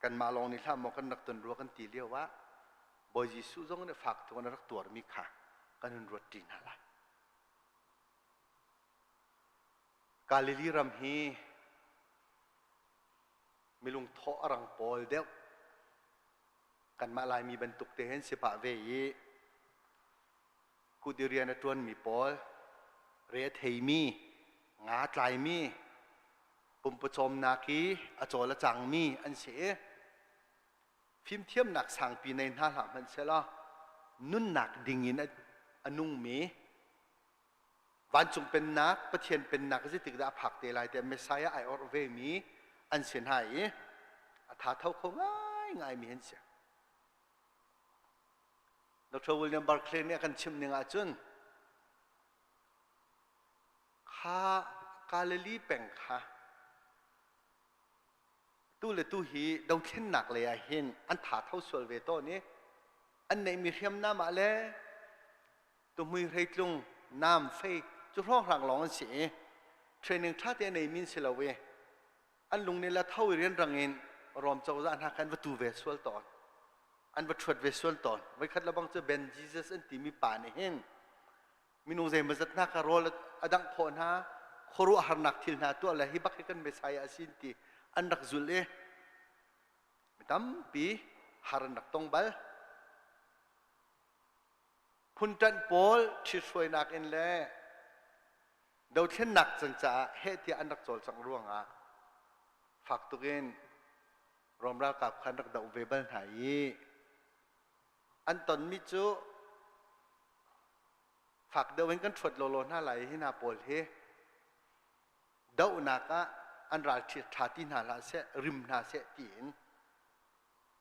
kanmah lawng nih hlah maw kan rak ton rua kan ti lio ah Bawi Jesuh zong nih fak tuk in a rak tuarmi kha kan hun ruatṭi hna lai. Galili ram hi milung thawh a rang pawl deuh kanmah Laimi bantuk te hin si pah ve i kut i rian a ṭuanmi pawl, re a theimi, nga tlaimi, pumpawcawmnak i a cawl a cangmi an si i fimthiamnak sangpi nei hna hlah hmanhsehlaw nunnak dingin a nungmi vancung pennak Pathian pennak zeitik dah a phak te lai tiah Messiah ai orh vemi an si hna i a thatho kho ngaingaimi an si. Dr. William Barclay nih a kan chimh ning ahcun kha Galilee peng kha tu le tu hi dothlennak lei ah hin an tha tho sual ve tawn i an neihmi hriamnam ah le tuhmui hreitlung nam fei cu hrawnghrang lawng an si i training ṭha te a neimi an si lo i an lung nih latho i rianrang in Rom cozah hna kha an va tu ve sual tawn an va ṭhuat ve sual tawn voikhat lebang cu Ben Jesus an timi pa nih hin minung zeimawzat hna kha rawl a dangh khawh hna khuaruah harnak thil hna tuah le hi bak hi kan Messiah a sin ti an rak zul i mi tampi har an rak tong bal Phuntanh pawl ṭhithruainak in le dothlennak can caah heh tiah an rak cawlcangh ruangah fak tuk in Rom ralkap kha an rak doh ve bal hna i an tonmi cu fak deuh in kan ṭhuat lawlaw hna lai i hi hna pawl hi dohnak ah an ral ṭha ti hna hlah seh rim hna seh tiin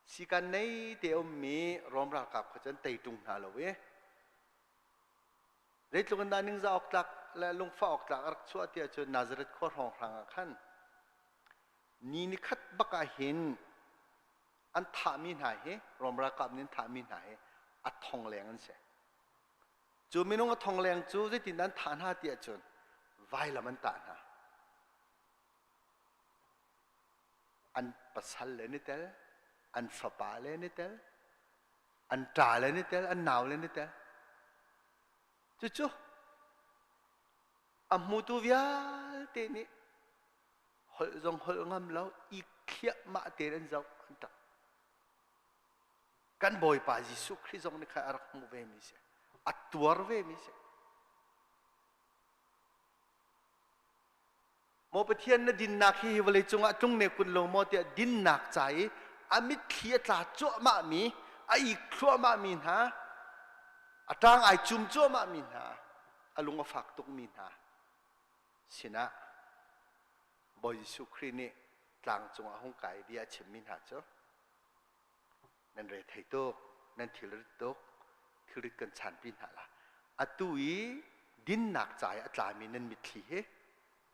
Sikan nei te ummi Rom ralkap kha cun tei ṭung hna lo i zeitluk in dah ningzah awk tlak le lungfah awk tlak a rak chuah tiah cun Nazareth khua hrawng hrang ah khan ni ni khat bak ah hin an thahmi hna hi Rom ralkap nih an thahmi hna hi a thongleng an si. Cu minung a thongleng cu zeitin an thah hna tiah cun vailam an tah hna. an pasal le ni tel an fapa le ni tel an ṭa le ni tel an nau le ni tel cucu a hmutu vialte nih holh zong holh ngam lo i khiahmah tein an zoh an ṭap kan bawipa jesuh khrih zong nih kha a rak hmuh vemi si a tuar vemi si Maw Pathian na dinnak hi, hi vawlei cungah tlung ne kun lo maw tiah dinnak ca i a mitthli a tla cuahmahmi, a ik thluahmahmi hna, a ṭang ai cum cuahmahmi hna, a lung a fak tukmi hna sinah Bawi Jesuh Khrih nih tlang cungah hung kai bia a chimmi hna cu nan rel thei tuk nan thilrit tuk thilrit kan chanpi hna la atu i dinnak ca i a tlami nan mitthli he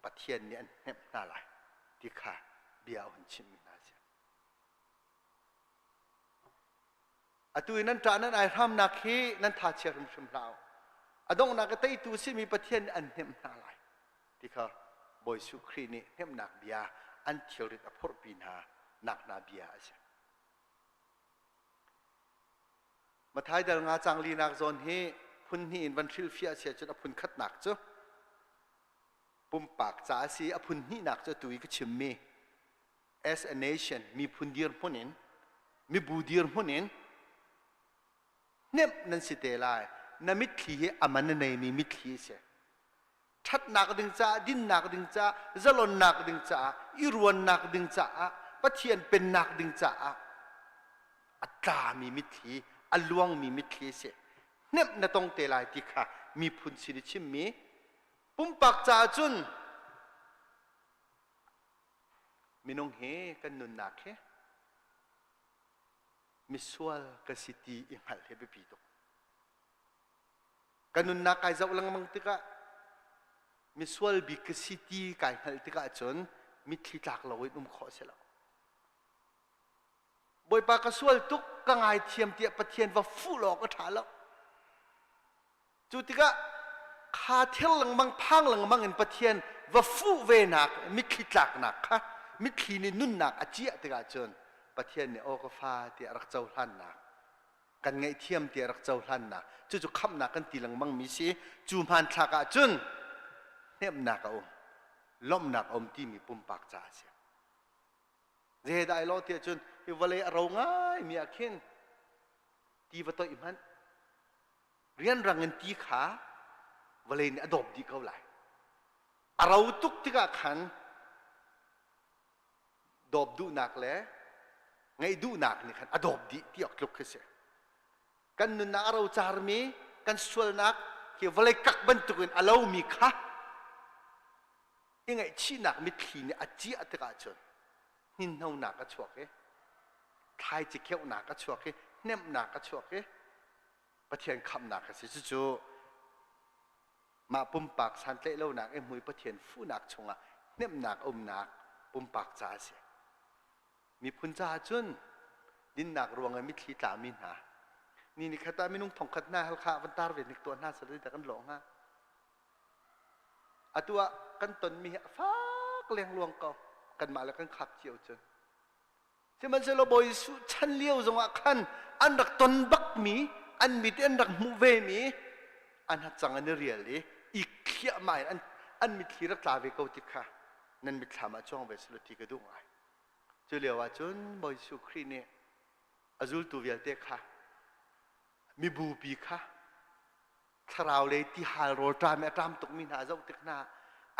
pathian nih an hnemh hna lai ti kha bia a hun chimmi hna si atu i nan ṭah nan ai hramnak hi nan thachia hrimhrim hlah u a donghnak a teitu a simi pathian nih an hnemh hna lai ti kha Bawi Jesuh Khrih nih hnemhnak bia an thilrit a phurhpi hna nak hna bia a si. Matthai dal nga cang linak zawn hi phun hnih in van hrilhfiah si ahcun a phun khatnak cu pumpak ca a si. A phun hnihnak cu tu i ka chimmi as a nation miphun dirhmun in mibu dirhmun in hnemh nan si te lai. Na mitthli hi a man a neimi mitthli a si. ṭhatnak ding caah dinnak ding caah zalonnak ding caah i ruannak ding caah pathian pennak ding caah a tlami mitthli a luangmi mitthli a si hnemh na tong te lai ti kha miphun sin i chimmi pumpak caah cun minung hi kan nunnak hi misual ka si ti i hngalh hi biapi tuk Ka nunnak kai zoh lengmang tikah misual bik ka si ti kai hngalh tikah cun mitthli tlak lo in um khawh a si lo. Bawipa ka sual tuk ka ngaithiam tiah Pathian va fuh law ka ṭha lo. Cu tikah kha ther lengmang phang lengmang in Pathian va fuh venak mitthli tlaknak kha mitthli nih nunnak a ciah tikah cun Pathian nih aw ka fa tiah rak cohlannak kan ngaihthiam tiah rak cohlannak cucu khamhnak kan ti lengmangmi si cu hmanthlak ah cun hnemhnak a um lawmhnak a um timi pumpak caah a si zedah ai law tiah cun hi vawlei a ro ngaimi ah khin ti va toih hmanh rianrang in ti kha vawlei nih a dawp dih ko lai a ro tuk tikah khan dawp duhnak le ngei duhnak nih khan a dawp dih ti awk tluk khi si. Kan nunnak a rocarmi kan sualnak hi vawlei kak bantukin a lomi kha i ngaihchihnak mitthli nih a ciah tikah cun hninhnonak a chuak i thlaici kheuhnak a chuak i hnemhnak a chuak i Pathian khamhnak a si. Cucu mah pumpak santlaih lonak i mui Pathian fuhnak chungah hnemhnak a umnak pumpak ca a si. Miphun caah cun dinnak ruangah mitthli tlami hna, ni ni khat ah minung thongkhat hna halkha van tar ve nik tuah hna sal kan lawh hnga. Atu ah kan tonmi hi a fak lengluang ko. Kanmah le kan khap cio cun. Sihmanhsehlaw Bawi Jesuh chan lio zongah khan an rak ton bakmi, an mit in an rak hmuh vemi an hacang an i rial i ikthliahmah in an, an mitthli rak tla ve ko ti kha nan mitthlam ah cuang ve selaw ti ka duh ngai. Cu lio ahcun Bawi Jesuh Khrih nih a zultu vialte kha mibupi kha thlarau lei tihal rawlṭam i a ṭam tukmi hna a zoh tik hna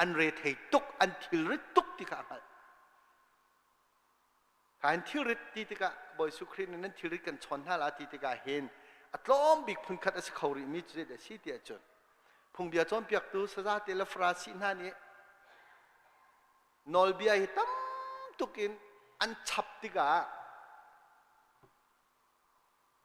an rethei tuk, an thilrit tuk ti kha a hngalh. Ka in thilrit ti tikah Bawisu Khrih nih nan thilrit kan chawn hna la ti tikah hin a tlawm bik phunkhat a si kho rihmi cu a si ti ahcun phungbia cawnpiaktu sazate le farasi hna nih nawlbia hi tam tuk in an chap tikah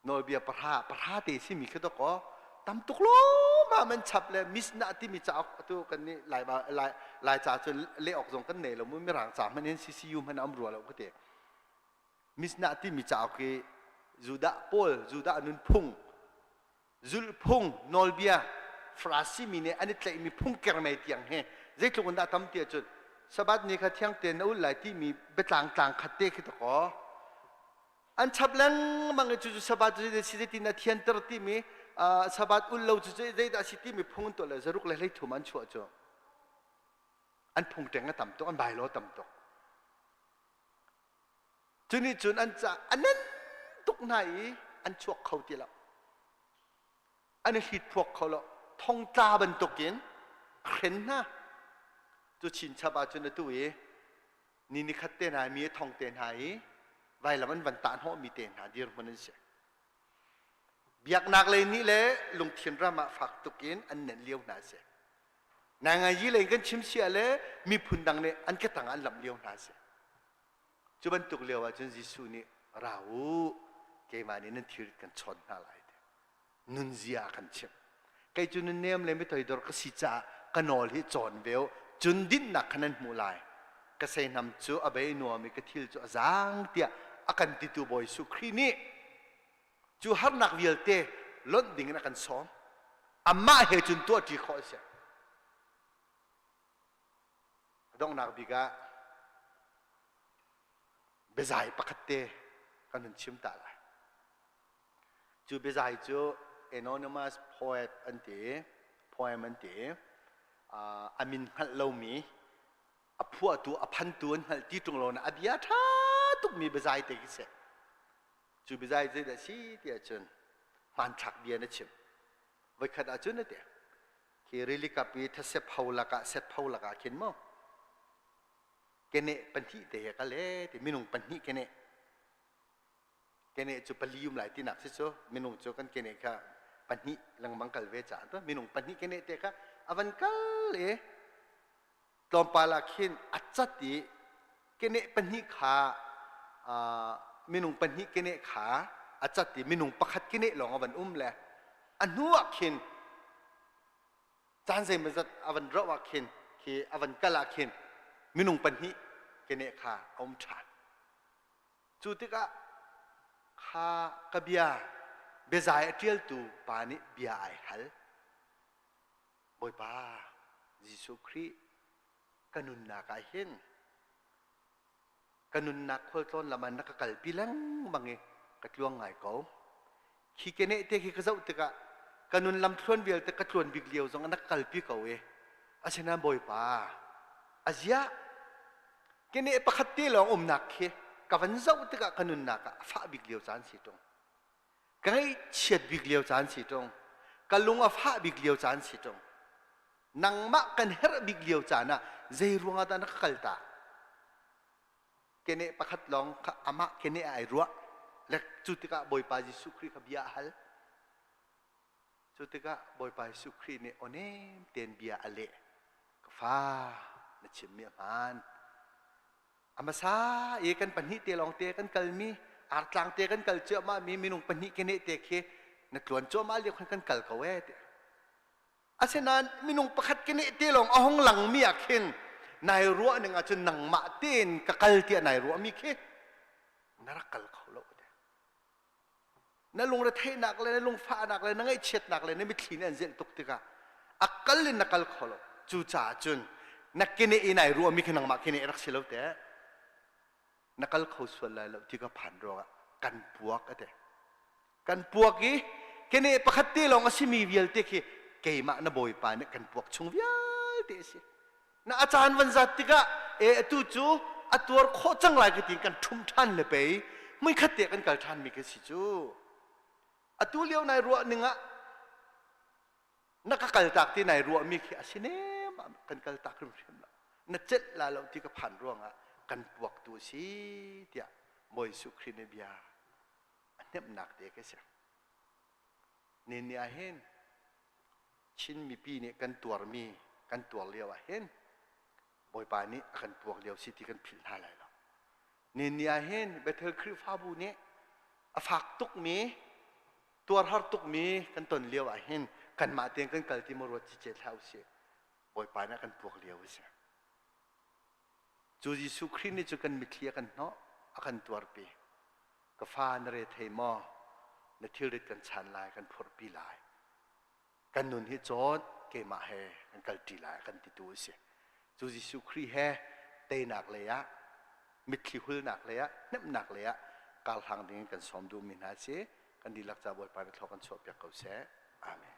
nawlbia pahra pahra te simi khi dok aw tam tuk lawmah man chap le misnah timi cauk atu kan nih lai lai lai ca cun le ok zong kan nei lo mu mirang ca hman in CCU hman am rua lo ka te misnah timi cauk hi Judah paul Judah nun phung zulhphung, nawlbia, Farasi mi nih an i tlaihmi phung kermei tiang hi zeitluk in dah a tam ti ahcun Sabbath ni kha thiang tein na ul lai timi biatlang tlang khat te khi takaw. An chap lengmang i cucu Sabbath cu zeitin zeitin a thianter timi uh, Sabbath ul lo cu zeidah a si timi phung an tuah le zaruk le hleithum an chuah cu an phung ṭeng a tam tuk an bylaw tam tuk Cu nih cun an ca a nan tuk hna i an chuak kho ti lo. An i hrit phuak kho lo. Thongtla bantukin a hren hna. Cu chinchap ah cun atu i ni ni khat te hna mi a thong te hna i vailam an van tah hnawhmi te hna dirhmun an si. Biaknak lei nih le lungthin ram ah fak tukin an nen lio hna a si. Nai ngayi lei kan chim siah le miphun dang nih an ka tang an lamh lio hna si. Cu bantuk lio ahcun Jesuh nih ra u, keimah nih nan thilrit kan chawn hna lai ti nunzia a kan chimh. Kei cu nun nem le mitoidor ka si caah ka nawl hi cawn ve u, cun dinhnak kha nan hmuh lai. Ka seinam cu a bei nuam i ka thil cu a zaang tiah a kan titu Bawi Jesuh Khrih nih cu harnak vialte lonh ding in a kan sawm. Amah he cun tuahṭi khawh a si. A donghnak bik ah biazai pakhat te kan hun chim ta lai. Cu biazai cu anonymous poet an ti i, poem an ti i, uh, a min hngalh lomi, a phuahtu, a phantu an hngalh ti ṭung lo na a bia ṭha tukmi biazai te khi si. cu bizai zeidah si ti ahcun hmanthlak bia na chim voikhat ahcun na tiang khi rili kap i thasep ho lakah set ho lakah khin maw kene pahnih te he kale ti minung pahnih kene kene cu pali um lai tinak si cu minung cu kan kene kha pahnih lengmang kal ve caah to minung pahnih kene te kha avan kal e tlawmpal ah khin a cat i keneh pahnih kha minung pahnih keneh kha a cat i minung pakhat keneh lawng a van um le a hnu ah khin caan zeimazat a van roh ah khin khi a van kal ah khin minung pahnih keneh kha a um ṭhan cu tikah kha ka bia biazai a ṭialtu pa nih bia ai hal Bawipa Jesuh Khrih ka nunnak ah hin ka nunnak khualtlawn lam ah na ka kalpi lengmang i ka tluang ngai ko. Khi keneh te khi ka zoh tikah ka nun lam thluan vialte ka tluan bik lio zong na ka kalpi ko i asinain Bawipa a zia keneh pakhat te lawng umnak khi ka van zoh tikah ka nunnak ah a fah bik lio caan si ṭung. ka ngaihchiat bik lio caan si ṭung ka lung a fah bik lio caan si ṭung nangmah kan herh bik lio caan ah zei ruangah dah na ka kal ta keneh pakhat lawng kha amah keneh ah ai ruah le cu tikah Bawipa Jesuh Khrih kha bia a hal cu tikah Bawipa Jesuh Khrih nih onem tein bia a leh ka fa na chimmi a hmaan A hmasa i kan pahnih te lawng te kan kalmi artlang te kan kal cuahmah mi minung pahnih ke ne te khi na tluan cuahmah lio khan kan kal ko e asinain minung pakhat ke ne te lawng a hong langmi ah khin nai ruah ning ahcun nangmah tein ka kal tiah nai ruah mi khi na rak kal kho lo na lungretheihnak le na lungfahnak le na ngaihchiatnak le na mitthli nih an zelh tuk tikah a kal in na kal kho lo cucaah cun na keneh i nai ruahmi khi nangmah keneh rak si lo teh na kal kho sual lai lo ti ka phan ruangah kan puak ate kan puak i keneh pakhat te lawng a simi vialte khi keimah na bawipa nih kan puak chung vialte a si Na a caan van zat tikah e atu cu a tuar khawh cang lai ka ti kan ṭhum ṭhan le pei muikhat te kan kal ṭhan mi kan si cu. Atu lio nai ruah ning ah na ka kaltak ti nai ruah mi khi a si nem ah kan kaltak hrimhrim lo. Na celh la lo ti ka phan ruangah kan puaktu a si tiah Bawi Jesuh Khrih nih bia a hnemhnak te ka si. Nenni ahhin Chin mipi nih kan tuarmi kan tuar lio ahhin Bawipa nih a kan puak lio si ti kan philh hna lai lo. Nenni ahhin Bethel Khrihfabu nih a fak tukmi, tuar har tukmi kan ton lio ahhin kanmah tein kan kal ti maw ruat cicet hlah usih. Bawipa nih a kan puak lio a si. Cu Jesuh Khrih nih cu kan mitthli a kan hnawh, a kan tuarpi. Ka fa, na re thei maw? Na thilrit kan chan lai, kan phurhpi lai. Kan nun hi cawt, keimah he kan kalṭi lai, kan titu a si. Cu Jesuh Khrih he teinak leiah, mitthli hulnak leiah, hnemhnak leiah karhlang dingin kan sawm duhmi hna si. Kan dihlak caah Bawipa nih thlawk an chuahpiak ko seh. Amen.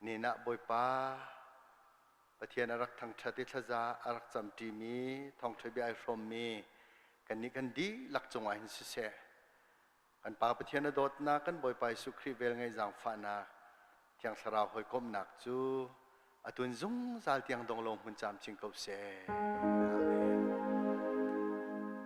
Nen ah Bawipa Pathian a rak thangṭhat i thlaza a rak camṭimi thawngṭha bia ai hrawmmi kannih kan dihlak cungah hin siseh, kan Pa Pathian a dawtnak, kan Bawipa Jesuh Khrih vel ngai zaangfahnak, Thiang Thlarau hawikomhnak cu a tun zungzal tiang dong law hmun camcin ko seh. Amen.